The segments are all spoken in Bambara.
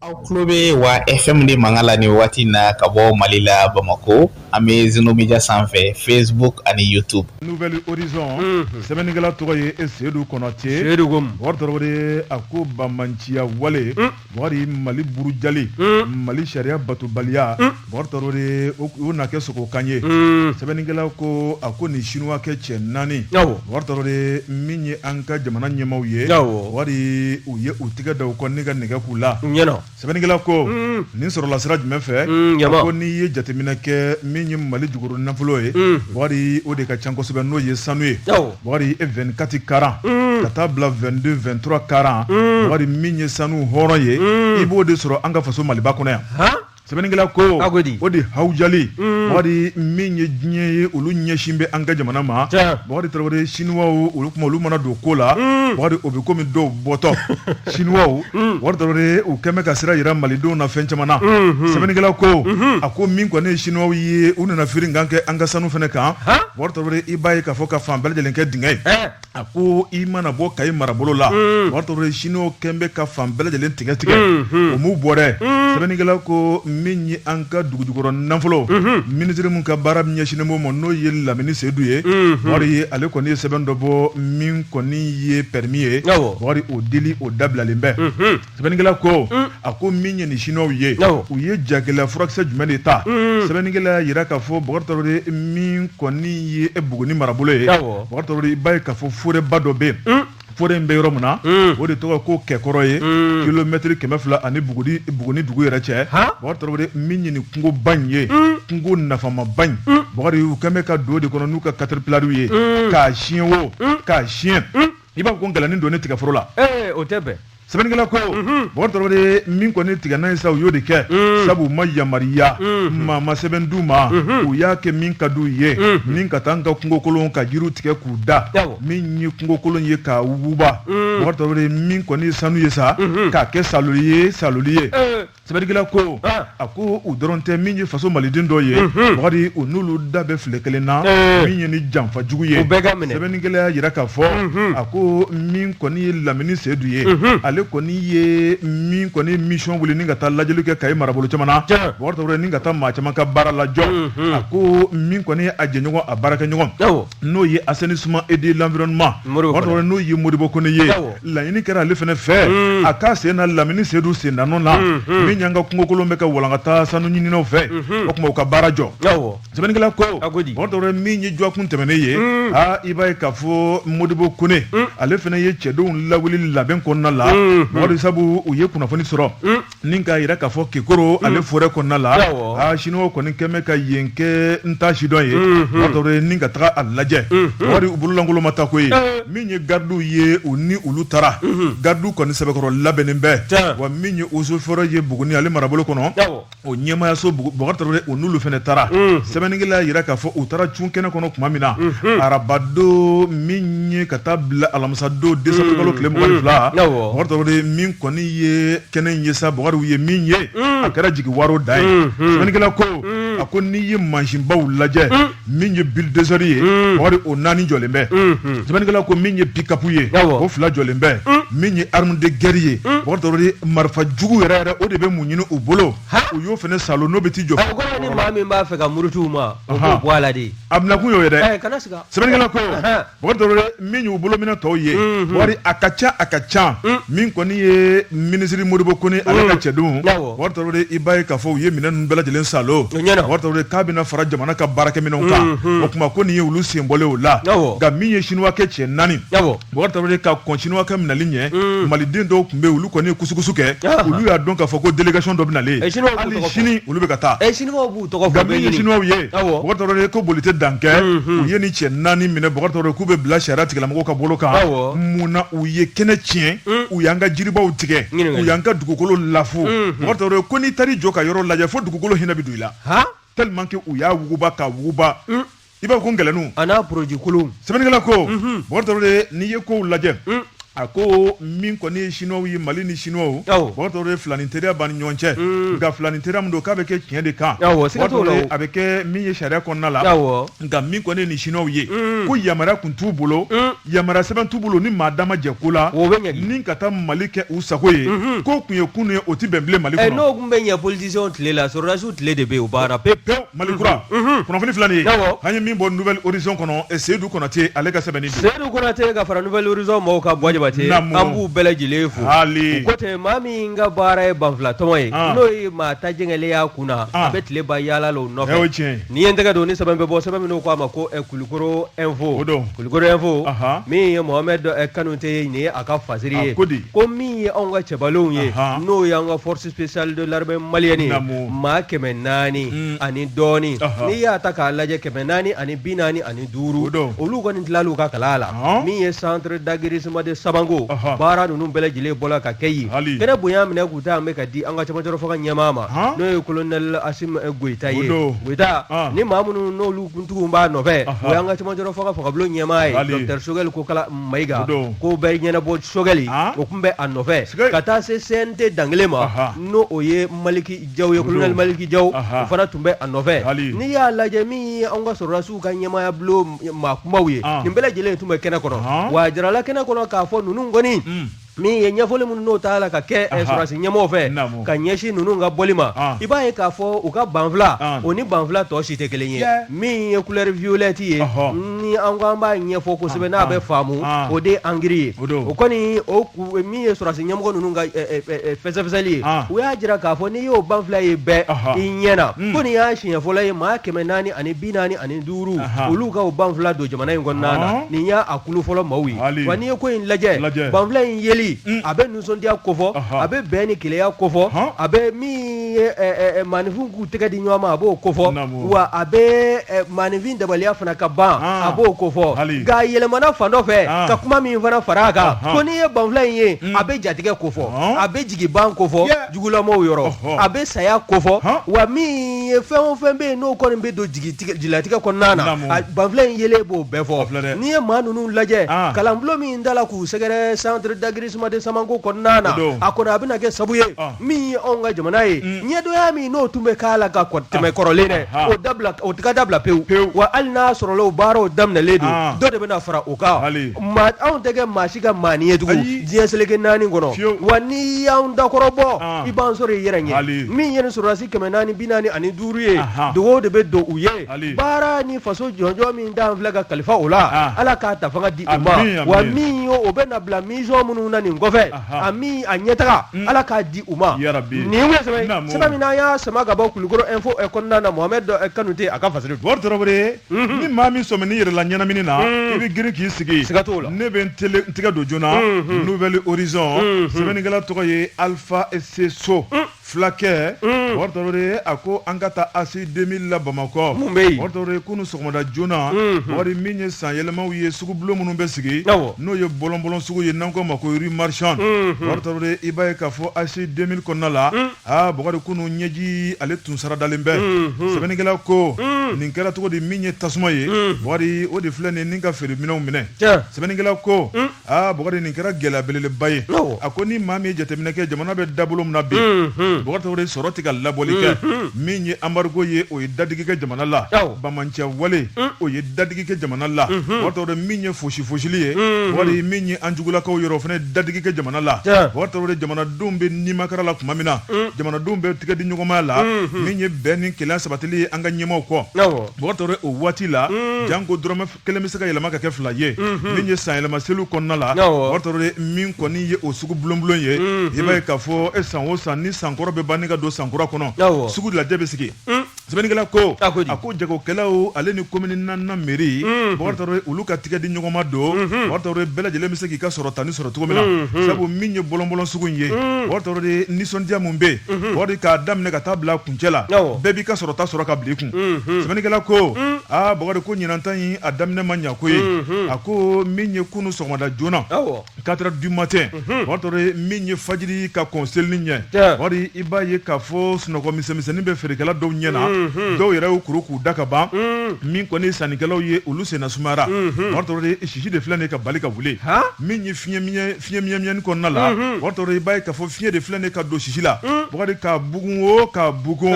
aw tulo bɛ wa fm de mankan la ni wagati na ka bɔ mali la bamakɔ an bɛ zeno media sanfɛ facebook ani youtube nouvel horizon sɛbɛnnikɛla tɔgɔ ye e sedu kɔnate sedu ko bakari tarawele a ko banmanciya wale bakari mali burujali mali sariya batobaliya Bakari tarawele o na kɛ sogo kan ye sɛbɛnnikɛla ko a ko nin sinuwakɛ cɛ naani bakari tarawele min ye an ka jamana ɲɛmaw ye bakari u ye u tɛgɛ da u kɔ ni ka nɛgɛ k'u la sɛbɛnnikɛla ko nin sɔrɔla sira jumɛn fɛ ko n'i ye jateminɛ kɛ min ye mali jukɔrɔ nafolo ye bakari o de ka ca kosɛbɛ n'o ye sanu ye bakari vingt-quatre carat ka taa bila vingt-deux vingt-trois carat bakari min ye sanu hɔrɔn ye i b'o de sɔrɔ an ka faso maliba kɔnɔ yan sɛbɛnnikɛla ko o de hawujali bakari mm. min ye diɲɛ ye olu ɲɛsin bɛ an ka jamana ma bakari tarawele siniwa olu kuma olu mana don ko la mm. bakari o bɛ komi dɔw bɔtɔ siniwa mm. bakari tarawele u kɛlen bɛ ka sira jira malidenw na fɛn caman na mm-hmm. sɛbɛnnikɛla ko mm-hmm. a ko min kɔni ye siniwaw ye u nana firinkan kɛ an ka sanu fana kan bakari tarawele i b'a ye k'a fɔ ka fan bɛɛ lajɛlen kɛ dingɛ ye eh. a ko i mana bɔ kayi marabolo la bakari tarawele siniwaw kɛlen bɛ ka fan bɛɛ lajɛlen tigɛ tigɛ o m'u bɔ dɛ sɛbɛnnikɛla ko min ye an ka dugujukɔrɔ nafolo minisiri min ka baara min ɲɛsinnen b'o ma n'o ye lamini seyidu ye bakari ale kɔni ye sɛbɛn dɔ bɔ min kɔni ye permis ye bakari o dili o dabilalen bɛ sɛbɛnnikɛla ko a ko min ye nin siniwaw ye u ye jagɛlɛya furakisɛ jumɛn de ta sɛbɛnnikɛla jira k'a fɔ bakari min kɔni ye buguni marabolo ye bakari i b'a ye k'a fɔ forêt ba dɔ bɛ yen forêt in bɛ yɔrɔ min na o de tɔgɔ ko kɛkɔrɔ ye kilomɛtiri kɛmɛ fila ani buguni dugu yɛrɛ cɛ bakari min ye nin kungoba in ye kungo nafamaba in bakari u kɛlen bɛ ka don o de kɔnɔ n'u ka katɛripilariw ye k'a tiɲɛ wo k'a tiɲɛ i b'a fɔ ko ngɛlɛnnin donnen tigaforo la o tɛ bɛn sɛbɛnnikɛla ko bakari tarawele min kɔni tigɛna ye sa u y'o de kɛ sabu u ma yamariya maa ma sɛbɛn d'u ma u y'a kɛ min ka d'u ye ni ka taa an ka kungokolon ka jiriw tigɛ k'u da min ye kungokolon ye k'a wuguba bakari tarawele min kɔni sanu ye sa k'a kɛ saloli ye saloli ye Sɛbɛnnikɛla ko a ko u dɔrɔn tɛ min ye faso maliden dɔ ye bakari u n'olu da bɛ filen kelen na min ye ni janfa jugu ye bɛɛ ka minɛ sɛbɛnnikɛla jira k'a fɔ a ko min kɔni ye lamini seyidu ye ale kɔni ye min kɔni mission wuli ni ka taa lajɛli kɛ kayi marabolo caman na ni ka taa maa caman ka baara lajɔ a ko min kɔni ye a jɛɲɔgɔn a baarakɛɲɔgɔn n'o ye assainissement et de l'environnement n'o ye modibo kone ye laɲini kɛra ale fana fɛ mm. a k'a sen na lamini seyidu sennanɔ na mm, mm. min y'an ka kungokolon bɛ ka walankata sanu ɲininaw fɛ mm-hmm. o tuma u ka baara jɔ sɛbɛnnikɛla ko Bukari min ye jɔkun tɛmɛnen ye aa i b'a ye k'a fɔ modibo kone ale fana ye cɛdenw lawuli labɛn kɔnɔna la Bukari sabu u ye kunnafoni sɔrɔ Ni k'a jira k'a fɔ kekoro ale forêt kɔnɔna la sinuwa kɔni kun bɛ ka yen kɛ n ta sidɔn ye ni ka taga a lajɛ Bukari u bololankolon ma taa koyi min ye gadiw ye u ni olu taara gadiw kɔni sɛbɛkɔrɔ labɛnnen bɛ wa min ye eaux et forêts ye buguni ale marabolo kɔnɔ o ɲɛmayaso u n'olu fana taara sɛbɛnnikɛla jira k'a fɔ u taara cun kɛnɛ kɔnɔ tuma min na arabadon min ye ka taa bila alamisadon décembre kalo tile mugan ni fila min kɔni i ye kɛnɛ in ye sa Bukari ye min ye a kɛra jigiwaro dan ye sɛbɛnnikɛla ko a ko n'i ye mansinbaw lajɛ min ye bulldozer ye Bukari o naani jɔlen bɛ sɛbɛnnikɛla ko min ye pick-up ye o fila jɔlen bɛ min ye arme de guerre ye Bukari Traore marifa jugu yɛrɛ yɛrɛ o de bɛ mun ɲini u bolo u y'o fana salo n'o bɛ t'i jɔ o kɔrɔ ye ni maa min b'a fɛ ka muruti u ma o b'o bɔ a la de a bɛnakun y'o ye dɛ sɛbɛnnikɛla ko O min y'u bolominɛn tɔw ye Bukari a ka ca a ka ca min kɔni ye minisiriri modibo kone ale ka cɛdenw Bukari i b'a ye k'a fɔ u ye minɛn ninnu bɛɛ lajɛlen salo k'a bɛna fara jamana ka baarakɛminɛnw kan o tuma ko nin ye olu sen bɔlen o la nka min ye sinuwakɛ cɛ naani Bukari ka kɔn sinuwakɛ minɛli ɲɛ maliden dɔw tun bɛ olu kɔni ye kusukusu kɛ olu y'a dɔn k'a fɔ ko délégation dɔ bɛ na hali sini olu bɛ ka taa ye Bukari Traore ko boli tɛ dan kɛ u ye ni cɛ naani minɛ Bukari Traore k'u bɛ bila sariya tigilamɔgɔ ka bolo kan mun na u ye kɛnɛ tiɲɛ u y'an ka jiribaw tigɛ u y'an ka dugukolo lafu Bukari Traore ko n'i taar'i jɔ ka yɔrɔ lajɛ fo dugukolo hinɛ bɛ don i la tellement que u y'a wuguba k'a wuguba i b'a ko gɛlɛnnu a n'a produit kolon sɛbɛnnikɛla ko Bukari Traore n'i ye kow lajɛ a ko min kɔni ye sinuwaw ye mali ni sinuwaw Bukari Traore filanin teriya b'an ni ɲɔgɔn cɛ nka filanin teriya min don k'a bɛ kɛ tiɲɛ de kan a bɛ kɛ min ye sariya kɔnɔna la nka min kɔni ye nin sinuwaw ye ko yamaruya tun t'u bolo yamaruya sɛbɛn t'u bolo ni maa dama jɛ ko la ni ka taa mali kɛ u sago ye ko tun ye kunun ye o tɛ bɛn bilen mali kɔnɔ n'o tun bɛ ɲɛ politicienw tile la sɔrɔdasiw tile de bɛ yen o banna pewu pewu Mali kura kunnafoni filanan ye an ye min bɔ Nouvel Horizon kɔnɔ eh, Seyidu Konate ale ka sɛbɛnni don Seyidu Konate ka fara Nouvel Horizon mɔgɔw ka bɔ Jabate an b'u bɛɛ lajɛlen fo u ko ten maa min ka baara ye banfilatɔmɔ ye ah. n'o ye maa ta jɛngɛlen y'a kun na a ah. bɛ tile ban yaala la o nɔfɛ o ye tiɲɛ ye ne ye n tɛgɛ don ni sɛbɛn bɛ bɔ sɛbɛn min u k'a ma ko eh, Kulukoro info o don Kulukoro info min ye Mohamed eh, Kanute ye nin ye a ka fasiri ye ko min ye anw ka cɛbalenw ye n'o y'an ka force spéciale de l'armée malienne Naamu. maa kɛmɛ naani Mm. ani dɔɔni Ɔhɔ. n'i y'a ta k'a lajɛ kɛmɛ naani ani bi naani ani duuru O don. olu kɔni tilal'u ka kalan la Ɔhɔ. min ye centre d'aguerrissement de samanko Ɔhɔ. baara ninnu bɛɛ lajɛlen bɔla ka kɛ yen Hali. kɛnɛ bonya minɛ k'u ta an bɛ ka di an ka camancɛrɔ fanga ɲɛmaa ma Ɔhɔ. n'o ye colonel asimi eh, goyita O ye don. goyita Ɔn. ni maa minnu n'olu kuntigiw b'a nɔfɛ Ɔhɔ. o y'an ka camancɛrɔ fanga fangabulon ɲɛmaa ye Hali. docteur sogɛli kokala Mayiga ko bɛɛ ɲɛnabɔ sogɛli o tun bɛ a nɔfɛ ka taa se CNT dankelen ma n'o o ye maliki jaw ye colonel maliki jaw o fana tun bɛ a nɔfɛ hali n'i y'a lajɛ min ye an ka sɔrɔdasiw ka ɲɛmaya bulon maa kunbaw ye nin bɛɛ lajɛlen tun bɛ kɛnɛ kɔnɔ wa a jirala kɛnɛ kɔnɔ k'a fɔ ninnu kɔni min ye ɲɛfɔli minnu n'o tala ka kɛ eh, sɔrɔdasi ɲɛmɔgɔ fɛ ka ɲɛsin ninnu ka bɔli ma ah. i b'a ye k'a fɔ u ka banfula ah. o ni banfula tɔ si tɛ kelen ye min ye couleur violette ye ni an ko an b'a ɲɛfɔ kosɛbɛ ah. n'a bɛ faamu o de ye angiri ye o kɔni o min ye sɔrɔdasi ɲɛmɔgɔ ninnu ka eh, eh, fɛsɛfɛsɛli ye u y'a jira k'a fɔ n'i y'o banfula ye bɛɛ i ɲɛ na hmm. ko nin y'a siɲɛ fɔlɔ ye maa kɛmɛ naani ani bi naani ani duuru olu ka o banfula don jamana in kɔnɔna na nin y'a kulu fɔlɔ maaw ye wa n'i ye ko in lajɛ banfula in yeli a bɛ nisɔndiya kofɔ a bɛ bɛn ni kelenya kofɔ a bɛ min ye maaninfin k'u tɛgɛ di ɲɔgɔn ma a b'o kofɔ wa a bɛ maaninfin dabaliya fana ka ban a b'o kofɔ nka yɛlɛmana fan dɔ fɛ ka kuma min fana fara a kan ko n'i ye banfula in ye a bɛ jatigɛ kofɔ a bɛ jigi ban kofɔ jugulama yɔrɔ a bɛ saya kofɔ wa min ye fɛn o fɛn bɛ yen n'o kɔni bɛ don jigilatigɛ kɔnɔna na banfula in yelen b'o bɛɛ fɔ n'i ye maa ninnu lajɛ kalanbolo min dala k'u sɛgɛrɛ centre d'aguerrissement de samanko kɔnɔna na a kɔni a bɛna kɛ sabu ye min ye anw ka jamana ye ɲɛdonya min n'o tun bɛ k'a la ka tɛmɛ kɔrɔlen dɛ o o taga dabila pewu pewu wa hali n'a sɔrɔla baaraw daminɛlen don dɔ de bɛna fara o kan anw tɛ kɛ maa si ka maani ye tugun diɲɛ seleke naani kɔnɔ wa n'i y'an dakɔrɔbɔ i b'an sɔrɔ i yɛrɛ ɲɛ min ye nin sɔrɔdasi kɛmɛ naani bi naani ani duuru ye dugawu de bɛ don u ye baara ni faso jɔnjɔn min dan filɛ ka kalifa o la ala k'a ta fanga di u ma wa min o bɛna bila mission minnu na nin kɔfɛ amiina a ɲɛtaga ala k'a di u ma nin min y'a sama ka bɔ kulukɔrɔ info kɔnɔna na mohamed kanute a ka fa Mhm. ni maa min sɔmina i yɛrɛ la ɲɛnamini na mhm. i bɛ girin k'i sigi siga t'o la ne bɛ n tele n tɛgɛ don joona mhm. nouvel horizon sɛbɛnnikɛla tɔgɔ ye alpha C. sow mm. fulakɛ mm. tarawele a ko an ka taa ACI 2000 la bamakɔ mun bɛ yen tarawele kunu sɔgɔmada joona wari min ye san yɛlɛmaw ye sugu bulon minnu bɛ sigi n'o ye bɔlɔnbɔlɔn sugu ye n'an k'o ma ko rue marchande tarawele i b'a ye k'a fɔ ACI 2000 kɔnɔna la mm. Aa Bukari kunu ɲɛji ale tun saradalen bɛ. Unhun! Sɛbɛnnikɛla ko. Un! Nin kɛra cogo di min ye tasuma ye. Un! Bukari o de filɛ nin ye ni ka feere minɛnw minɛ. Tiɲɛ! Sɛbɛnnikɛla ko. Un! Aa Bukari nin kɛra gɛlɛya belebeleba ye. Awɔ! A ko ni maa min ye jateminɛ kɛ jamana bɛ dabolo min na bi. Unhun! Bukari Tarawele sɔrɔ tɛ ka labɔli kɛ. Unhun! Min ye embargo ye o ye dadigi kɛ jamana la. Awɔ! Banbaanciya wale. Un! O ye dadigi kɛ jamana la. Unhun! Bukari Tarawele min ye fosi fosili ye. Unhun! Bukari min ye an jugulakaw yɔrɔ o fana ye dadigi kɛ jamana la. Tiɲɛ! Bukari Tarawele jamana jamanadenw bɛ nimakara la tuma min na jamanadenw bɛ tigɛ di ɲɔgɔnmaya la min ye bɛn ni kelen sabatili ye an ka ɲɛmaaw kɔ Bukari Tarawele o waati la janko dɔrɔmɛ kelen bɛ se ka yɛlɛma ka kɛ fila ye min ye san yɛlɛma seliw kɔnɔna la Bukari Tarawele min kɔni ye o sugu bulonbulon ye i b'a ye k'a fɔ e san o san ni sankɔrɔ bɛ ban ni ka don sankura kɔnɔ sugu lajɛ bɛ sigi sɛbɛnnikɛla ko a ko jagokɛlaw ale ni komini naani mairie Bukari Tarawele olu ka tigɛ di ɲɔgɔnma don Bukari Tarawele bɛɛ lajɛlen bɛ se k'i ka sɔrɔtanin sɔrɔ cogo min na sabu min ye bɔlɔnbɔlɔn sugu in ye Bukari Tarawele nisɔndiya minnu bɛ yen Bukari k'a daminɛ ka taa bila kuncɛ la bɛɛ b'i ka sɔrɔta sɔrɔ ka bila i kun sɛbɛnnikɛla ko aa Bukari ko ɲinanta in a daminɛ ma ɲɛ koyi a ko min ye kunun sɔgɔmada joona Katara di ma tɛ min ye faji ka kɔ seli ɲɛ wari i b'a ye ka fɔ sunɔgɔmisɛnnin bɛ feerekɛla dɔw ɲɛ na dɔw yɛrɛ y' kuru k'u da ka ban min kɔni sannikɛlaw ye olu sen sumayara sisi de filɛ de ka bali ka wuli min ye fiɲɛyɛnani kɔnɔna la i b'a ye ka fɔ fiɲɛyɛn de filɛ de ka don sisi la ka bugu o ka bugu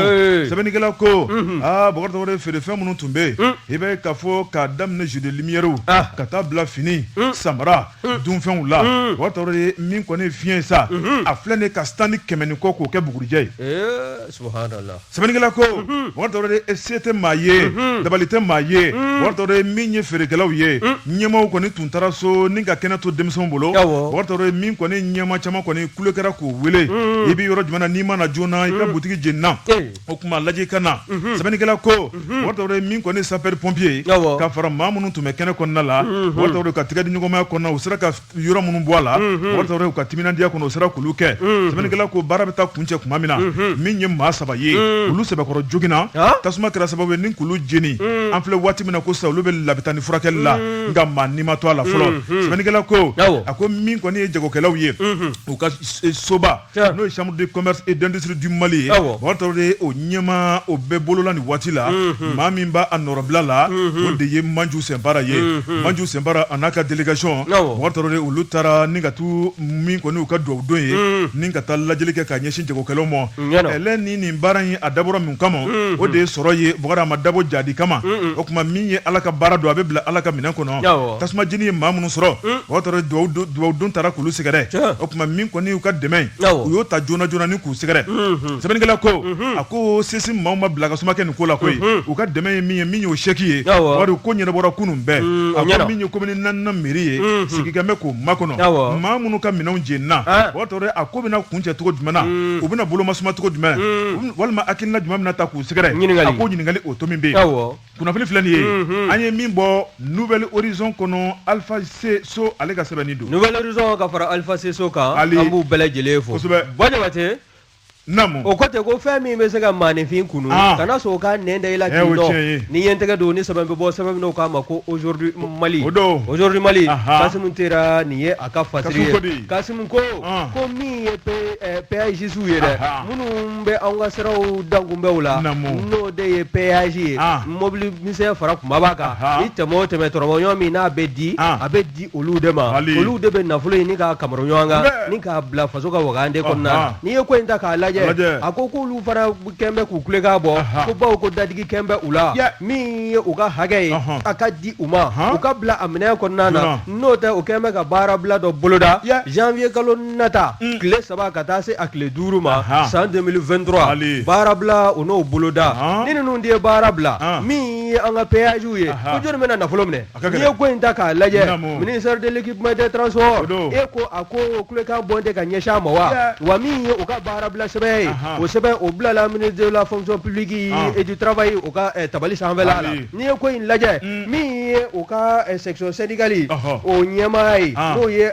sɛbɛnnikɛla ko aa feere fɛn minnu tun bɛ yen i b'a ye k'a fɔ k'a daminɛ jeux de lumièrew ah. ka taa bila fini hmm. samara hmm. dunfɛnw la hmm. Bukari Tarawele min kɔni fiɲɛ sa a filɛ nin ka stand kɛmɛ ni kɔ k'o kɛ bugurijɛ ye eh, sɛbɛnnikɛla ko Bukari Tarawele se tɛ maa ye dabali tɛ maa ye Bukari Tarawele min ye feerekɛlaw ye ɲɛmaaw kɔni tun taara so ni ka kɛnɛ to denmisɛnw bolo Bukari Tarawele min kɔni ɲɛmaa caman kɔni kule kɛra k'o wele i bɛ yɔrɔ jumɛn na n'i ma na joona i ka butigi jenina eh. o tuma lajɛ ka na mhm. sɛbɛnnikɛla ko mhm. Bukari Tarawele min kɔni sapeur pompier ka fara maa minnu tun bɛ kɛnɛ kɔnɔna la mhm. Bukari Tarawele u ka tigɛ di ɲɔgɔnmaya kɔnɔ u sera ka yɔrɔ minnu bɔ a la Bukari Tarawele u ka timinandiya kɔnɔ u sera k'olu kɛ sɛbɛnnikɛla ko baara bɛ taa kuncɛ tuma min na min ye maa saba ye olu sɛbɛkɔrɔ joginna tasuma kɛra sababu ye ni k'olu jeni an filɛ waati min na ko sisan olu bɛ labitani furakɛli la nka maa ni ma to a la fɔlɔ sɛbɛnnikɛla ko a ko min kɔni ye jagokɛlaw ye u ka soba n'o ye chambre de commerce et d'industrie du Mali ye Bukari Tarawele o ɲɛmaa o bɛ bolo la nin waati la mhm. maa min b'a nɔrɔbila la mhm. o de ye Manju Sinpara ye mhm. Manju Sinpara a n'a ka délégation Bukari Tarawele olu taara ni ka t'u min kɔni u ka dugawudon ye ni ka taa lajɛli kɛ k'a ɲɛsin jagokɛlaw ma ɛlɛ ni nin baara in a dabɔra min kama o de ye sɔrɔ ye Bukari a ma dabɔ jahadi kama o tuma min ye Ala ka baara don a bɛ bila Ala ka minɛn kɔnɔ tasuma jeni ye maa minnu sɔrɔ hmm. o tɔɔrɔ dubabu don taara k'olu sɛgɛrɛ o tuma min kɔni y'u ka dɛmɛ u y'o ta joona joona ni k'u sɛgɛrɛ hmm, hmm. sɛbɛnnikɛla ko a ko sisi maaw ma bila ka suma kɛ nin ko la koyi u ka dɛmɛ ye min ye min y'o sɛki ye wari ko ɲɛnabɔra kunun bɛɛ a ko min ye komini naaninan mairie ye sigikɛn bɛ k'o makɔnɔ maa minnu ka minɛnw jenina ah. o tɔɔrɔ a ko bɛna kuncɛ cogo jumɛn na u bɛna bolomasuma cogo jumɛn walima hakilina jumɛn bɛna ta k'u sɛgɛrɛ a ko ɲininkali o to min bɛ yen kunnafoni filɛ nin ye mhm. an ye min bɔ nouvel horizon kɔnɔ alpha c. sow ale ka sɛbɛnni don nouvel horizon ka fara alpha c. sow kan an b'u bɛɛ lajɛlen fo kosɛbɛ bɔ jabate namu o kɔtɛ ko fɛn min bɛ se ka maaninfin kunu ah. kana sɔn o ka nɛn da i la k'i dɔn ni ye n tɛgɛ don ni sɛbɛn bɛ bɔ sɛbɛn min k'a ma ko aujourd'hui mali o don aujourd'hui mali kasimu tera nin ye a ka fasiri ye kasimu ko ah. ko min ye péagisiw ye dɛ minnu N bɛ anw ka siraw dankunbɛnw la, naamu, n'o de ye péage ye, an, mobili misɛn fara kunbaba kan, anhan, i tɛmɛ o tɛmɛ tɔrɔmɔɲɔgɔn min n'a bɛ di, an, a bɛ di olu de ma, wali, olu de bɛ nafolo ɲini k'a kamaro ɲɔgɔn kan, sɛbɛ, ni k'a bila faso ka wagande kɔnɔna, ɔnhɔn, n'i ye ko in ta k'a lajɛ, a lajɛ, a ko k'olu fana kɛlen bɛ k'u kulekan bɔ, anhan, ko bawo ko dadigi kɛlen bɛ u la, yɛ, min ye u ka hakɛ ye, ɔnhɔn, a ka di u ma, anhan, u ka bila a minɛn kɔnɔna na, joona, n'o tɛ u kɛlen bɛ ka baarabila dɔ boloda, yɛ, janvier kalo nata mm. tile saba ka taa se a tile duuru ma san 2023 baarabila o n'o boloda ni ninnu de ye baara bila min ye an ka péagew ye ko jɔnni bɛna nafolo minɛ n'i ye ko in ta k'a lajɛ ministère de l'équipement des transports e ko a ko kulekan bɔn tɛ ka ɲɛsin a ma wa wa min ye u ka baarabila sɛbɛn ye o sɛbɛn o bilala ministre de la fonction publique et du travail o ka eh, tabali sanfɛla la N'i ye ko in lajɛ min ye u ka section syndicale o ɲɛmaa ye n'o ye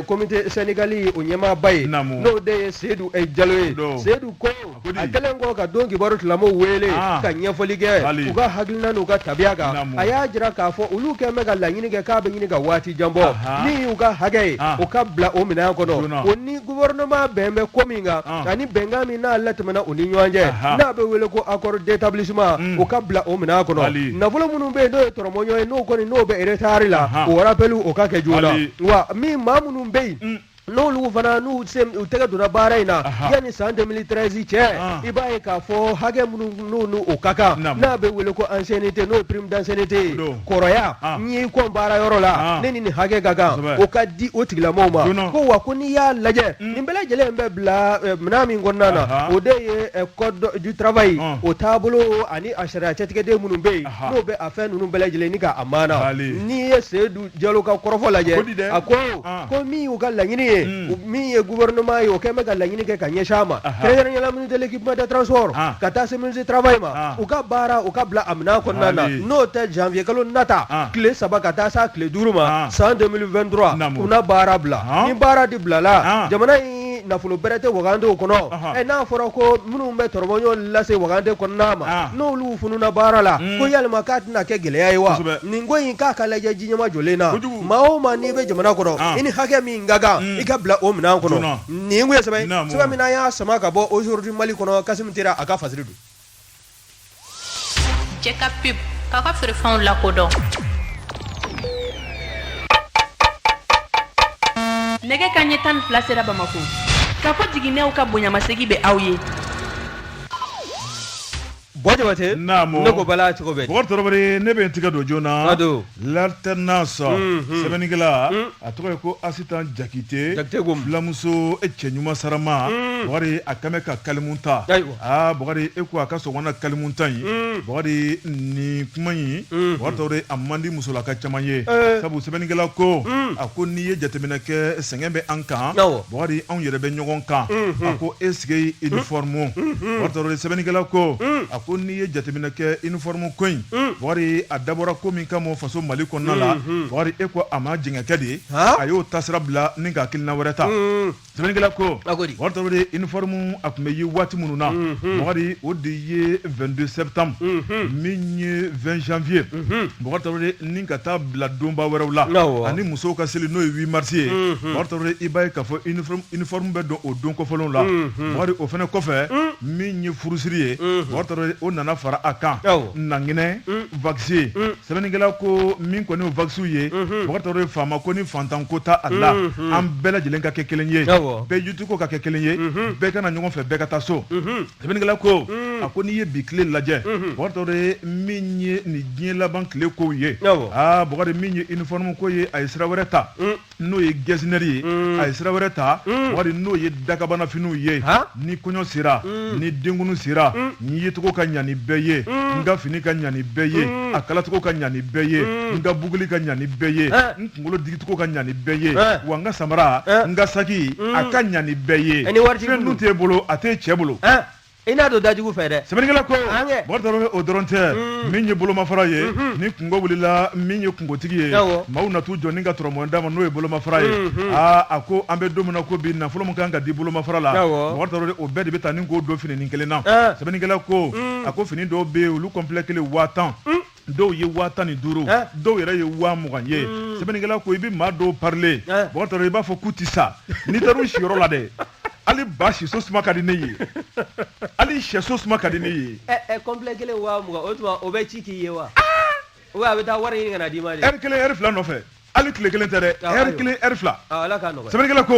comité syndical o ɲɛmaaba ye n'o de ye seyidu jalo ye seyidu ko a kɛlen kɔ ka don kibaru tilamɔgɔw wele ka ɲɛfɔli kɛ u ka hakilina n'u ka tabiya kan a y'a jira k'a fɔ olu kɛlen bɛ ka laɲini kɛ k'a bɛ ɲini ka waati jan bɔ min y'u ka hakɛ ye o ka bila o minɛn kɔnɔ gouvernement bɛn bɛ ko min kan ah. ani bɛnkan min n'a latɛmɛna u ni ɲɔgɔn cɛ n'a bɛ wele ko accord d'établissement hmm. o ka bila o minɛn kɔnɔ nafolo minnu bɛ yen n'o ye tɔrɔmɔɲɔgɔn ye n'o kɔni n'o bɛ retard la o rappel o ka kɛ joona wa min maa minnu bɛ yen hmm. n'olu fana n'u tɛgɛ donna baara in na yanni san 2013 cɛ ah. i b'a ye k'a fɔ hakɛ minnu n'o ka kan n'a bɛ wele ko ancienneté n'o ye prime d'ancienneté kɔrɔya n y'i kɔn baara yɔrɔ la ne ni nin hakɛ ka kan o ka di o tigilamɔgɔw ma ko wa ko n'i y'a lajɛ nin bɛɛ lajɛlen bɛ bila minɛn min kɔnɔna na o de ye code du travail o taabolo ani a sariya cɛtigɛden minnu bɛ yen n'o bɛ a fɛn ninnu bɛɛ lajɛlen ni k'a maana n'i ye seyidu jalo ka kɔrɔfɔ lajɛ a ko ko min y'u ka laɲini ye min ye gouvernement ye o kɛn bɛ ka laɲini kɛ ka ɲɛsin a ma kɛrɛnkɛrɛnnenya la ministre de l'équipement des transports ka taa se ministre du travail ma u ka baara u ka bila a minɛn kɔnɔna na n'o tɛ janvier kalo nata tile saba ka taa s'a tile duuru ma san 2023 u na baara bila ni baara de bilala jamana in ni nafolo bɛrɛ tɛ wagande kɔnɔ ɛ n'a fɔra ko minnu bɛ tɔrɔbɔɲɔgɔn lase wagande kɔnɔna ma n'olu fununa baara la ko yalima k'a tɛna kɛ gɛlɛya ye wa nin ko in k'a ka lajɛ ji ɲɛmajɔlen na maa o maa n'i bɛ jamana kɔnɔ i ni hakɛ min ka kan i ka bila o minɛn kɔnɔ nin kun ye sɛbɛn min y'a sama ka bɔ Aujourd'hui Mali kɔnɔ Kasimu Tera a ka fasiri don Cɛ ka pub aw ka feerefɛnw lakodɔn nɛgɛ kanɲɛ tan fila sera bamakɔ ka fɔ jiginɛw ka bonyamasegin bɛ aw ye bon jabatɛ ne ko bala cogo bɛ bɔn ne bɛ tigɛ don joona l'alternance sɛbɛnnikɛla a tɔgɔ ye ko asitan jakite fulamuso cɛɲuman sarama bukari a kɛlen ka kalimu ta aa Bukari e ko a ka sɔgɔma na kalimuta in, un, Bukari nin kuma in, unhun, Bukari Tarawele a man di musolaka caman ye, ee, sabu sɛbɛnnikɛla ko, un, a ko n'i ye jateminɛ kɛ sɛgɛn bɛ an kan, awɔ, Bukari anw yɛrɛ bɛ ɲɔgɔn kan, unhun, a ko est-ce que uniforme, unhun, Bukari Tarawele sɛbɛnnikɛla ko, un, a ko n'i ye jateminɛ kɛ uniforme ko in, un, Bukari a dabɔra ko min kama o faso Mali kɔnɔna la, unhun, Bukari e ko a ma jɛngɛ kɛ de, haa, a y'o taasira bila ni ka hakilina wɛrɛ ta, un Sɛbɛnnikɛla ko, a ko di? Bukari Tarawele uniforme a tun bɛ ye waati minnu na, unhun, Bukari o de ye 22 septembre unhun, min ye 20 janvier unhun, Bukari Tarawele ni ka taa bila donba wɛrɛw la, awɔ, ani musow ka seli n'o ye 8 mars ye, unhun, Bukari Tarawele i b'a ye k'a fɔ uniforme bɛ don o don kɔfɔlenw la, unhun, Bukari o fana kɔfɛ, un, min ye furusiri ye, unhun, Bukari Tarawele o nana fara a kan, awɔ, Nankinɛ va sɛbɛnnikɛla ko min kɔni waksiw ye Bukari Tarawele faama ko ni fantan ko ta a la an bɛɛ lajɛlen ka kɛ kelen ye bɛɛ jutu ko ka kɛ kelen ye bɛɛ ka na ɲɔgɔn fɛ bɛɛ ka taa so sɛbɛnnikɛla ko a ko n'i ye bi tile lajɛ Bukari Tarawele min ye nin diɲɛ laban tile kow ye aa Bukari min ye uniforme ko ye a ye sira wɛrɛ ta n'o ye gɛsinɛri ye mm. a ye sira wɛrɛ ta mm. Bukari n'o ye dakabanafiniw ye ni kɔɲɔ sera mm. ni denkunu sera n yecogo ka ɲa ni bɛɛ ye n ka fini ka ɲa ni bɛɛ ye a kalacogo ka ɲa ni bɛɛ ye n ka buguli ka ɲa ni bɛɛ ye n kunkolo digicogo ka ɲa ni bɛɛ ye wa n ka samara n ka saki a ka ɲa ni bɛɛ ye fɛn dun t'e bolo a t'e cɛ bolo i n'a don dajugu fɛ dɛ sɛbɛnnikɛla ko An kɛ. Bukari Tarawele o dɔrɔn tɛ min ye bolomafara ye ni kunko wulila min ye kunkotigi ye Awɔ. maaw na t'u jɔ ni ka tɔrɔmɔn d'a ma n'o ye bolomafara ye aa a ko an bɛ don min na ko bi nafolo min kan ka di bolomafara la Awɔ. Bukari Tarawele o bɛɛ de bɛ taa ni k'o don fininin kelen na Ah. sɛbɛnnikɛla ko a ko fini dɔw bɛ yen olu kɔnpilɛ kelen waa tan dɔw ye waa tan ni duuru dɔw yɛrɛ ye waa mugan ye hmm. sɛbɛnnikɛla ko i bɛ maa dɔw parilen Bokar Traoré i b'a fɔ k'u tɛ sa n'i taara u siyɔrɔ la dɛ hali ba siso suma ka di ne ye hali sɛso suma ka di ne ye complet kelen waa mugan o tuma o bɛ ci k'i ye wa ah! a bɛ taa wari ɲini ka na d'i ma de heure kelen heure fila nɔfɛ hali tile kelen tɛ dɛ heure kelen heure fila sɛbɛnnikɛla ko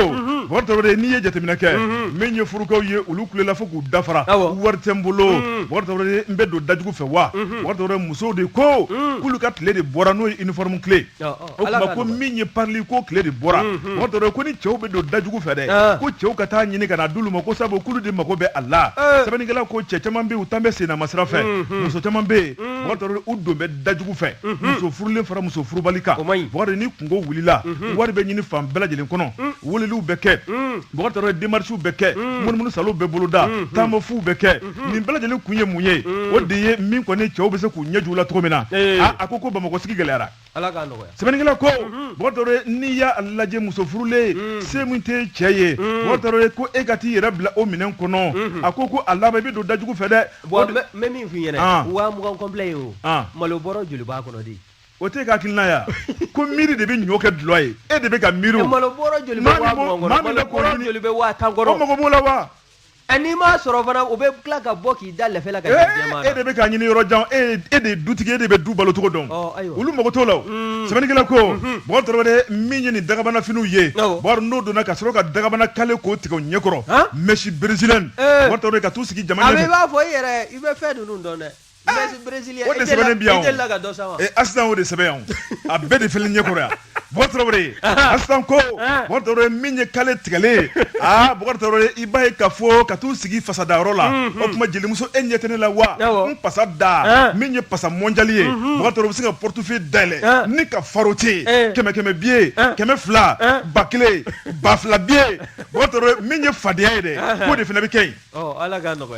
Bokar Traoré n'i ye jateminɛ kɛ min ye furukaw ye olu kulela fo k'u dafara wari tɛ n bolo Bokar Traoré n bɛ don dajugu fɛ wa Bokar Traoré musow de ko k'olu ka tile de bɔra n'o ye uniforme tile o tuma ko min ye parili ko tile de bɔra Bokar Traoré ko ni cɛw bɛ don dajugu fɛ dɛ ko cɛw ka taa ɲini ka na d'olu ma ko sabu k'olu de mago bɛ a la sɛbɛnnikɛla ko cɛ caman bɛ yen u tan bɛ senna sira fɛ muso caman bɛ yen Bokar Traoré u don bɛ dajugu fɛ muso furulen fara muso furubali kan Bokar ni kungo wulila wari bɛ ɲini fan bɛɛ lajɛlen kɔnɔ weleliw bɛ kɛ Bokar Traoré démarches bɛ kɛ munumunu salow bɛ boloda taamafuw bɛ kɛ nin bɛɛ lajɛlen kun ye mun ye o de ye min kɔni cɛw bɛ se k'u ɲɛju la cogo min na a ko ko bamakɔ sigi gɛlɛyara sɛbɛnnikɛla ko Bokar Traoré n'i y'a lajɛ muso furulen se min tɛ cɛ ye Bokar Traoré ko e ka t'i yɛrɛ bila o minɛn kɔnɔ a ko ko a laban i bɛ don dajugu fɛ dɛ N bɛ min f'i ɲɛna waa mugan complet ye o malo bɔrɔ joli b'a kɔnɔ de o tɛ ka hakilina ya ko miiri de bɛ ɲɔ kɛ dulɔ ye e de bɛ ka miiri malo bɔrɔ joli bɛ waa tan kɔnɔ o mako b'o la wa n'i m'a sɔrɔ fana u bɛ tila ka bɔ k'i da la e de bɛ ka ɲini yɔrɔ jan e e de ye dutigi e de bɛ du balocogo dɔn olu mago t'o la sɛbɛnnikɛla ko Bokar Traoré min ye nin dagabana finiw ye n'o donna ka sɔrɔ ka dagabana kale k'o tigɛ o ɲɛkɔrɔ mèche brésilienne ka taa sigi jama ɲɛfɛ i b'a fɔ e i bɛ fɛn ninnu dɔn dɛ o de sɛbɛn a bɛɛ de filɛ ɲɛkɔrɔ yan Asitan ko min ye kale tigɛlen i b'a ye ka fɔ ka t'u sigi fasada yɔrɔ la o tuma jelimuso e ɲɛ tɛ ne la wa n pasa da min ye pasa mondial ye bɛ se ka portefeuille dayɛlɛn ni ka faroter kɛmɛ kɛmɛ billet kɛmɛ fila ba kelen ba fila billet min ye fadenya ye dɛ k'o de fana bɛ kɛ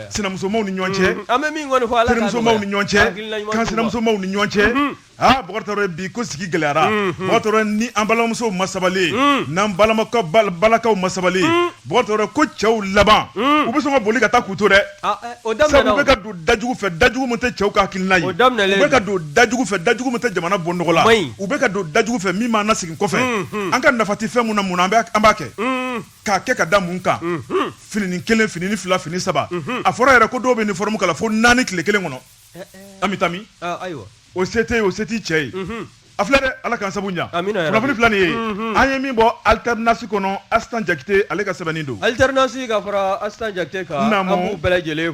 sinamusomaw ni ɲɔgɔn cɛ ni ɲɔgɔn cɛ kansinamusomaw ni ɲɔgɔn cɛ Aa Bokar Traoré bi ko sigi gɛlɛyara, unhun, Bokar Traoré ni an balimamusow ma sabali, un, n'an balimakɛ balakaw ma sabali, un, Bokar Traoré ko cɛw laban, un, u bɛ sɔn ka boli ka taa k'u to dɛ, aa ɛ o daminɛna o, sabu u bɛ ka don da jugu fɛ, da jugu min tɛ cɛw ka hakilina ye, o daminɛlen don, u bɛ ka don da jugu fɛ, da jugu min tɛ jamana bɔ nɔgɔ la, o ma ɲi, u bɛ ka don da jugu fɛ min b'an lasegin kɔfɛ, unhun, an ka nafa tɛ fɛn min na mun an b'a an b'a kɛ, un, k'a kɛ ka da mun kan, unhun, fininin kelen, fininin fila, fini saba, unhun, a fɔra yɛrɛ ko dɔw bɛ uniforme kala fo naani tile kelen kɔnɔ an bɛ tami ayiwa o se tɛ o se t'i cɛ ye a filɛ dɛ ala ka sabu ɲɛ kunnafoni fila nin ye an ye min bɔ alternance kɔnɔ astan jakite ale ka sɛbɛnni don alternance ka fara astan jakite kan bɛɛ lajɛlen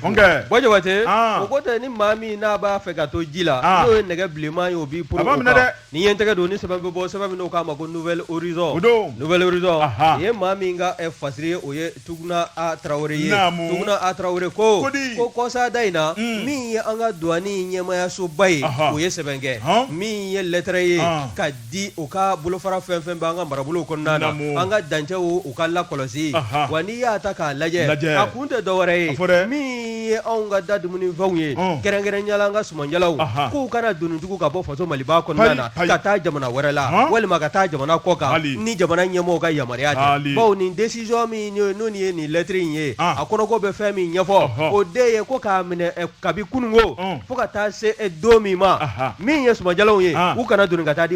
jabate o ko tɛ ni maa min n'a b'a fɛ ka to ji la n'o ye nɛgɛ bilenman ye o b'i bolo dɛ Ni ye n tɛgɛ don ni sɛbɛn bɛ bɔ sɛbɛn min k'a ma ko nouvel horizon, o don, nouvel horizon, anhan, nin ye maa min ka fasiri ye o ye Tuguna A Tarawele ye, naamu, Tuguna A Tarawele ko, ko di, ko kɔsa da in na, un, min ye an ka douane ɲɛmaayasoba ye, ɔhɔ, o ye sɛbɛn kɛ, han, min ye lettre ye, an, ka di o ka bolofara fɛn o fɛn bɛ an ka marabolow kɔnɔna na, naamu, an ka dancɛw u ka lakɔlɔsi, anhan, wa n'i y'a ta k'a lajɛ, lajɛ, a kun tɛ dɔwɛrɛ ye, a fɔ dɛ, min ye anw ka da dumuni fɛnw ye kɛrɛnkɛrɛnya la an ka sumanjalaw k'u kana doni tugu ka bɔ faso maliba kɔnɔna na ka taa jamana wɛrɛ la walima ka taa jamana kɔ kan ni jamana ɲɛmɔgɔ ka yamaruya tɛ baw nin décision min n'o ye nin lɛtiri in ye a kɔnɔko bɛ fɛn min ɲɛfɔ o de ye ko k'a minɛ kabi kununko fo ka taa se don min ma min ye sumanjalaw ye u kana doni ka taa di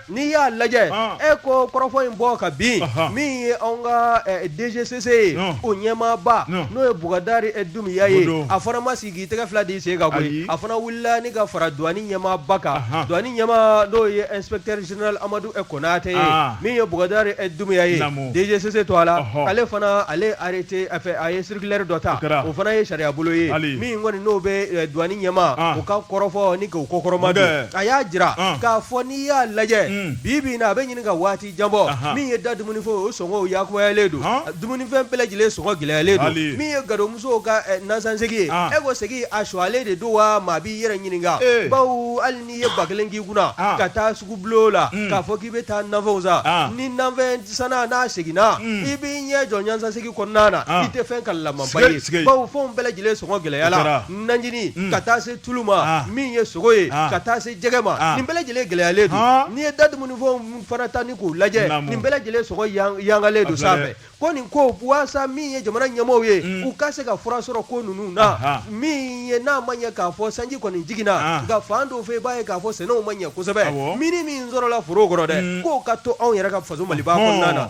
N'i y'a lajɛ e ko kɔrɔfɔ in bɔ ka bin min ye anw ka DGCC ye o ɲɛmaaba n'o ye bukadari dumbiya ye a fana ma sigi k'i tɛgɛ fila d'i sen kan koyi a fana wulila ni ka fara douane ɲɛmaaba kan douane ɲɛmaa n'o ye inspecteur général amadu konate ye min ye bukadari dumbiya ye DGCC tɔgɔ la ale fana ale arrêté a fɛ a ye circulaire dɔ ta o fana ye sariya bolo ye min kɔni n'o bɛ douane ɲɛmaa o ka kɔrɔfɔ nin kɔkɔrɔmadon a y'a jira k'a fɔ i y'a lajɛ bi bi na a bɛ ɲini ka waati jan bɔ min ye da dumunifɛn o sɔngɔ yagubalen don dumunifɛn bɛɛ lajɛlen sɔngɔ gɛlɛyalen don min ye gadonmuso ka nasansegi ye e ko segi a sɔgɔlen de don wa maa b'i yɛrɛ ɲininka baw hali n'i ye ba kelen k'i kunna ka taa sugu bulon la k'a fɔ k'i bɛ taa nafɛnw san ni nafɛn sanna n'a seginna i b'i ɲɛ jɔ nasansegi kɔnɔna na i tɛ fɛn kalamaba ye baw fɛn bɛɛ lajɛlen sɔngɔ gɛlɛyala nanjini ka taa se tulu ma min ye sogo ye ka taa se jɛgɛ ma nin bɛɛ lajɛlen gɛlɛyalen don n'i ye da dumunifɛnw fana ta ni k'u lajɛ nin bɛɛ lajɛlen sɔngɔ yangalen don sanfɛ ko nin ko walasa min ye jamana ɲɛmaaw ye u ka se ka fura sɔrɔ ko ninnu na min ye n'a ma ɲɛ k'a fɔ sanji kɔni jiginna nka fan dɔw fɛ i b'a ye k'a fɔ sɛnɛw ma ɲɛ kosɛbɛ min min sɔrɔla foro kɔrɔ dɛ k'o ka to anw yɛrɛ ka faso maliba kɔnɔna na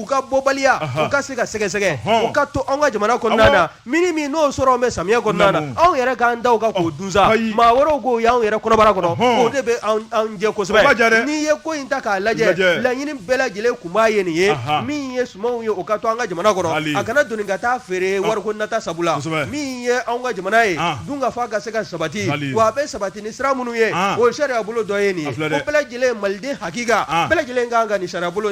u ka bɔbaliya u ka se ka sɛgɛsɛgɛ u ka to anw ka jamana kɔnɔna min min n'o sɔrɔ bɛ samiyɛ kɔnɔna anw yɛrɛ k'an da ka k'o dun sa maa wɛrɛw k'o y'an yɛrɛ kɔnɔbara kɔnɔ o de bɛ jɛ kosɛbɛ n'i ye ko in ta k'a lajɛ laɲini bɛɛ lajɛlen kunba ye nin ye min ye sumanw ye o ka to an ka jamana kɔnɔ a kana doni ka taa feere wariko nata sabula min ye anw ka jamana ye dunkafa ka se ka sabati wa a bɛ sabati ni sira minnu ye o sariya bolo dɔ ye nin ye bɛɛ lajɛlen maliden hakika bɛɛ lajɛlen ka kan ka nin sariya bolo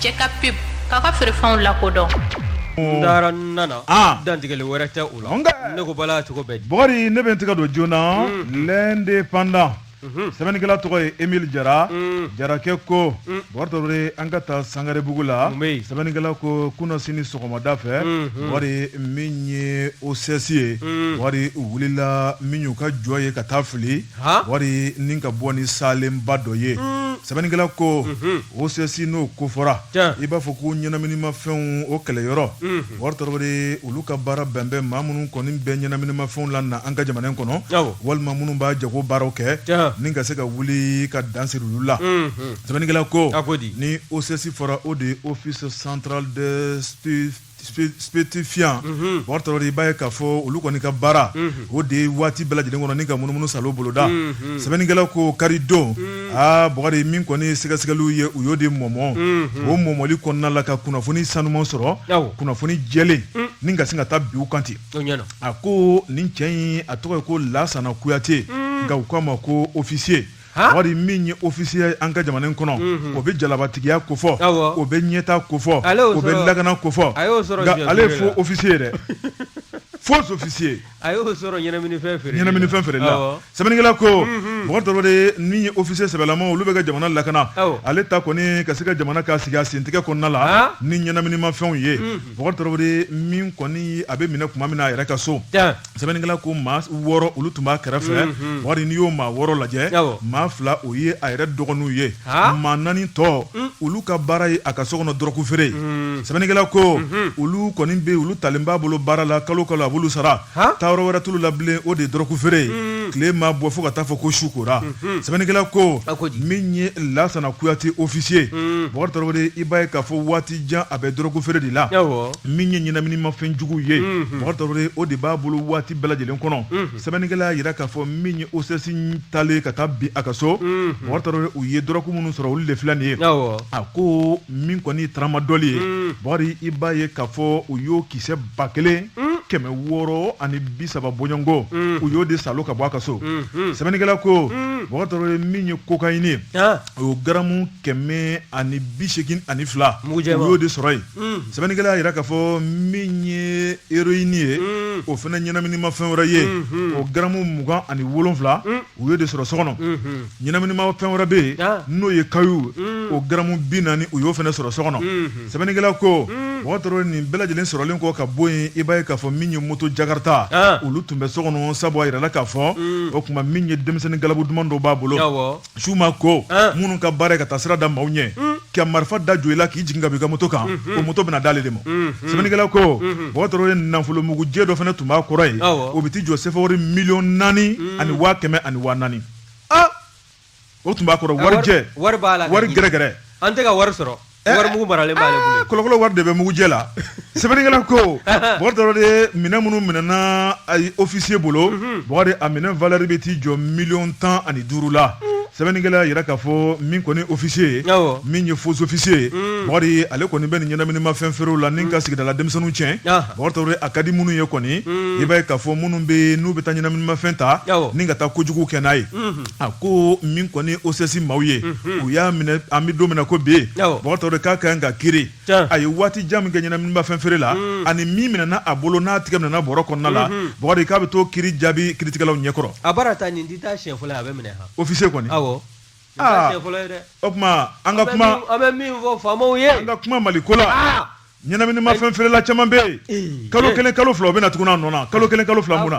Cɛ ka pe ka ka feerefɛnw lakodɔn taara nana dantigɛli wɛrɛ tɛ u la ne ko bala cogo bɛ bakari ne bɛ n tɛgɛ don journal l'indépendant sɛbɛnnikɛla tɔgɔ ye emile jara jarakɛ ko bakari tarawele an ka taa sangarebugu la sɛbɛnnikɛla ko kunasini sɔgɔmada fɛ bakari min ye OCS ye bakari wulila min y'u ka jɔ ye ka taa fili bakari ni ka bɔ ni salenba dɔ ye sɛbɛnnikɛla ko OCS n'o ko fɔra i b'a fɔ ko ɲɛnaminimafɛnw o kɛlɛyɔrɔ bakari tarawele olu ka baara bɛnbɛn maa minnu kɔni bɛ ɲɛnaminimafɛnw lana an ka jamana in kɔnɔ walima minnu b'a jago baaraw kɛ ni ka se ka wuli ka dan siri olu la sɛbɛnnikɛla ko ni OCS fɔra o de ye office central de Stupéfiants mhm. bakari tarawele i b'a ye k'a fɔ olu kɔni ka baara mhm. o de waati bɛɛ lajɛlen kɔnɔ ni ka munumunu salo boloda mhm. sɛbɛnnikɛla ko kari don aa bakari min kɔni sɛgɛsɛgɛliw ye u y'o de mɔmɔ o mɔmɔli kɔnɔna la ka kunnafoni sanuman sɔrɔ kunnafoni jɛlen mm. ni ka se ka taa bin u kan ten a ko nin cɛ in a tɔgɔ ye ko lasana kuyate mm. nka u k'a ma ko ofisiye bakari min ye ofisiye an ka jamana kɔnɔ o bɛ jalabatigiya ko fɔ o bɛ ɲɛta ko fɔ o bɛ lakana ko fɔ ale ye faux ofisiye dɛ faux ofisiye a y'o sɔrɔ ɲɛnaminifɛn feere la sɛbɛnnikɛla ko bakari tarawele min ye ofisiye sɛbɛlama olu bɛ ka jamana lakana ale ta kɔni ka se ka jamana ka sigi a sentigɛ kɔnɔna la ni ɲɛnaminimafɛnw ye bakari tarawele min kɔni a bɛ minɛ tuma min na a yɛrɛ ka so sɛbɛnnikɛla ko maa wɔɔrɔ olu tun b'a kɛrɛfɛ mhm. bakari n'i y'o maa wɔɔrɔ lajɛ maa fila o ye a yɛrɛ dɔgɔninw ye maa naani tɔ mm. olu ka baara ye a ka so kɔnɔ dɔrɔku feere mm. sɛbɛnnikɛla ko mhm. olu kɔni bɛ olu talen b'a bolo baara la kalo kalo a b'olu sara taayɔrɔ wɛrɛ t'olu la bilen o de ye dɔrɔku feere ye mm. tile ma bɔ fo ka taa fɔ ko su kora mhm. sɛbɛnnikɛla ko min ye lasana kuyate ofisiye bakari tarawele i b'a ye k'a fɔ waati jan a bɛ dɔrɔku feere de la min ye ɲɛnaminimafɛn jugu ye bakari tarawele o de b'a bolo waati bɛɛ lajɛlen kɔnɔ sɛbɛnnikɛla y'a jira k'a fɔ min ye OCS talen ka taa bin a ka so bakari tarawele u ye dɔrɔku minnu sɔrɔ olu de filɛ nin ye a ko min kɔni taramadɔli ye bakari i b'a ye k'a fɔ u y'o kisɛ ba kelen kɛmɛ wɔɔrɔ ani bi saba bɔɲɔgɔnko u y'o de salo ka bɔ a ka so sɛbɛnnikɛla ko bakari tarawele min ye cocaïne o garamu kɛmɛ ani bi segin ani fila u y'o de sɔrɔ yen mm. sɛbɛnnikɛla y'a jira k'a fɔ min ye héroïne ye mm. o fana ɲɛnaminimafɛn wɛrɛ ye mm-hmm. o garamu mugan ani wolonfila mm. u y'o de sɔrɔ so kɔnɔ mm-hmm. ɲɛnaminimafɛn wɛrɛ bɛ yen ah. n'o ye kayu o garamu bi naani u y'o fana sɔrɔ so kɔnɔ mm-hmm. sɛbɛnnikɛla ko bakari tarawele nin bɛɛ lajɛlen sɔrɔlen kɔ ka bɔ yen i b'a ye k'a fɔ min ye moto jakarta ah. olu tun bɛ so kɔnɔ sabu a yirala k'a fɔ o tuma min ye denmisɛnnin galabu duman dɔw b'a bolo su ma ko minnu ka baara ye ka taa sira da maaw ɲɛ ka marifa da jo i la k'i jigin ka b'i ka moto kan o moto bɛna d'ale de ma sɛbɛnnikɛla ko mɔgɔ dɔ ye nafolo mugujɛ dɔ fana tun b'a kɔrɔ ye o bɛ t'i jɔ sɛfa miliyɔn naani ani waa kɛmɛ ani waa naani o tun b'a kɔrɔ warijɛ wari gɛrɛgɛrɛ an tɛ ka wari sɔrɔ wari mugu maralen b'ale bolo kolokolo wari de bɛ mugujɛ la sɛbɛnnikɛla ko bɔgɔ dɔrɔn de minɛn minnu minɛna officier bolo bɔgɔ de a minɛn valɛri bɛ t'i jɔ miliyɔn tan ani duuru la sɛbɛnnikɛla y'a jira k'a fɔ min kɔni officier ye Awɔ. min ye faux officier ye bɔgɔ de ye ale kɔni bɛ nin ɲɛnaminimafɛn feere la ni ka sigidala denmisɛnninw tiɲɛ Aha. bɔgɔ dɔrɔn de a ka di minnu ye kɔni i b'a ye k'a fɔ minnu bɛ n'u bɛ taa ɲɛnaminimafɛn ta Awɔ. ni ka taa kojugu kɛ n'a ye a ko min kɔni o sesi maaw ye u y'a minɛ an bɛ don min ko bɛ yen bɔtɔ de k'a ka ka kiri a ye waati jan min kɛ ɲɛnaba fɛn feere la ani min minɛ a bolo n'a tigɛ minɛ bɔ kɔnɔna la b k'a bɛ to ki jaabi kitigɛlaw ɲɛkɔrɔ a ofise kɔni o tuma an ka kuma an ka kuma mali ko la ɲɛnaminimafɛn feerela caman bɛ yen eh, eh. kalo kelen kalo fila o bɛ na tuguni a nɔ na kalo kelen kalo fila mun na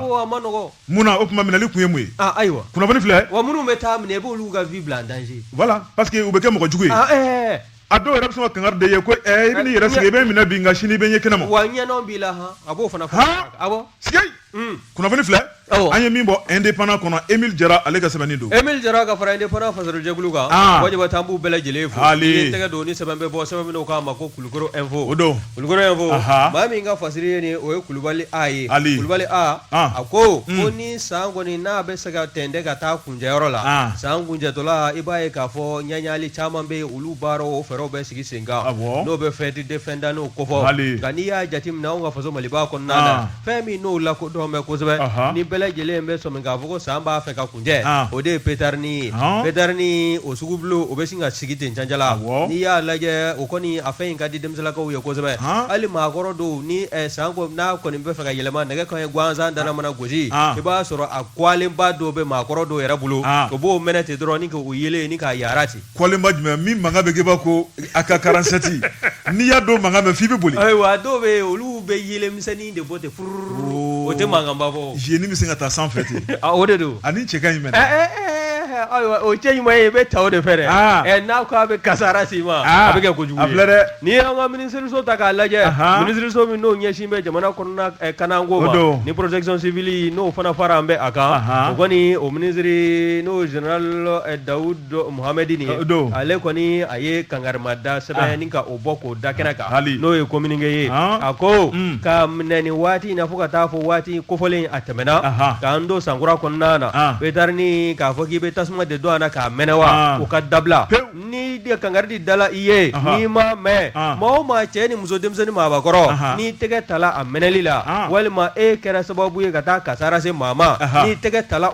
mun na o tuma minɛli kun ye mun ye ah, ayiwa kunnafoni filɛ wa minnu bɛ t'a minɛ i b'olu ka vie bila en danger voilà parce que u bɛ kɛ mɔgɔ jugu ye ah, eh, a dɔw yɛrɛ bɛ sɔn ka kangari d'i ye ko ɛɛ i bɛ n'i yɛrɛ sigi i bɛ n minɛ bi nka sini i bɛ n ye kɛnɛ ma wa ɲɛnɔ b'i la han a b'o fana fɔ awɔ sigi Hmm. kunnafoni filɛ an ye min bɔ indépendant kɔnɔ Emile Jara ale ka sɛbɛnni don Emile Jara ka fara indépendant fasirijɛkulu kan ah. Wajaba t'an b'u bɛɛ lajɛlen fo i ye tɛgɛ don ni sɛbɛn bɛ bɔ sɛbɛn min k'a ma ko Kulukoro info o don Kulukoro info maa min ka fasiri ye nin ye o ye Kulubali A ye Kulubali A ah. a ko hmm. ko ni san kɔni n'a bɛ se ka tɛntɛn ka taa kuncɛyɔrɔ la ah. san kuncɛtɔla i b'a ye k'a fɔ ɲagali caman bɛ yen olu baaraw o fɛɛrɛw bɛ sigi sen kan n'o bɛ fête de fin d'année kofɔ nka n'i y'a jateminɛ anw ka faso Maliba kɔnɔna na fɛn min n'o lakodɔn bɛ kosɛbɛ Ɔhɔ. ni bɛɛ lajɛlen bɛ sɔmi k'a fɔ ko san b'a fɛ ka kuncɛ Ah. o de ye petarini ye Ɔhɔ. petarini o sugu bulon o bɛ sin ka sigi ten cancala Awɔ. n'i y'a lajɛ o kɔni a fɛn in ka di denmisɛnninlakaw ye kosɛbɛ Ɔhɔ. hali maakɔrɔ dɔw ni eh, san n'a kɔni bɛ fɛ ka yɛlɛma nɛgɛ kanɲɛ gansan dana mana gosi Ah. i b'a sɔrɔ a kɔlenba dɔw bɛ maakɔrɔ dɔw yɛrɛ bolo Ah. o b'o mɛnɛ ten dɔrɔn ni k'o yelen ni k'a yara ten kɔlenba jumɛn min mankan bɛ kɛ b'a ko AK quarante-sept n'i y'a dɔ mankan mɛn f'i bɛ boli ayiwa dɔw bɛ yen olu bɛ yeelenmisɛnnin de bɔ ten furururu o tɛ mankanba bɔ zeni bɛ se ka taa sanfɛ ten o de don ani cɛ ka ɲi mɛnɛ ayiwa o cɛ ɲuman ye i bɛ taa o de fɛ dɛ n'a ko a bɛ kasara s'i ma a bɛ kɛ kojugu ye a filɛ dɛ n'i y'an ka minisiriso ta k'a lajɛ minisiriso min n'o ɲɛsin bɛ jamana kɔnɔ lakanako ma ni protection civile n'o fana faralen b'a kan kɔni o minisiri n'o j da do Mohammedine ye ale kɔni a ye kangarima da sɛbɛn ah. ni ka o bɔ k'o da kɛnɛ kan ah, n'o ye communiqué ye ah. a ko mm. ka minɛ nin waati in na fo ka taa fɔ waati kofɔlen a tɛmɛna k'an don sankura kɔnɔna na petarini k'a fɔ k'i bɛ tasuma de don a na k'a mɛnɛ wa o ka dabila ni de kangari di dala i ye n'i ma mɛn maa o maa cɛ ni muso denmisɛnnin maabakɔrɔ n'i tɛgɛ tala a mɛnɛli la walima e kɛra sababu ye ka taa kasara se maa ma n'i tɛgɛ tala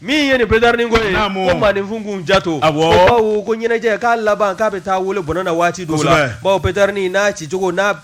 Min ye nin petarini ko ye ko maaninfin k'u janto a bawo ko ɲɛnajɛ k'a laban k'a bɛ taa wolo bɔnɛ na waati dɔw la bawo petarini n'a ci cogo n'a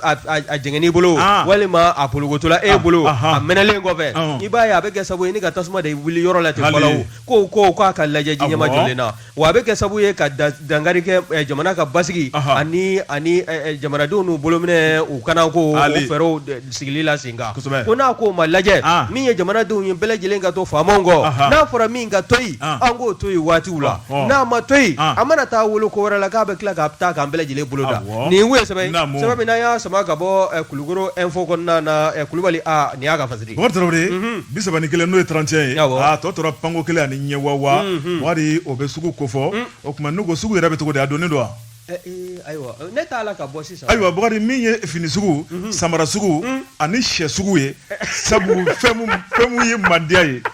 jɛngɛn'i bolo walima a porokotola e bolo a mɛnɛlen kɔfɛ i b'a ye a bɛ kɛ sabu ye ni ka tasuma de wuli yɔrɔ la ten ko ko k'a ka lajɛ ji ɲɛmajɔlen na Wa a bɛ kɛ sababu ye ka dankari kɛ jamana ka basigi ani ani jamanadenw n'u bolominɛ u kana ko fɛɛrɛ sigili la sen kan ko n'a ko ma lajɛ min ye jamanadenw ye bɛɛ lajɛlen ka to faamaw kɔ n'a fɔra min ka toyi an k'o to yen waatiw la n'a ma toyi a mana taa wolo ko wɛrɛ la k'a bɛ tila ka taa k'an bɛɛ lajɛlen bolo da an kun sɛbɛn min y'a sama ka bɔ Kulukoro info kɔnɔna Kulubali nin y'a Bɔkari Tarawele bi saba ni kelen n'o ye trente et un ye tɔ tora panko kelen ani ɲɛ wa Bɔkari o bɛ sugu ko fɔ o tuma n'u ko sugu yɛrɛ bɛ cogo di a donnen don wa ayiwa Bɔkari min ye fini sugu samara sugu ani shɛ sugu ye sabu fɛn min ye mandiya ye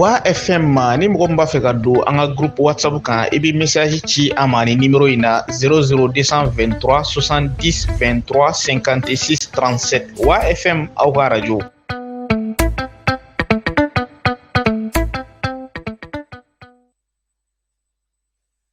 wa fm ma ni mɔgɔ min b'a fɛ ka don an ka group whatsapp kan i bɛ message ci an ma ni nimero in na 00223 70 23 56 37 wa fm aw ka radio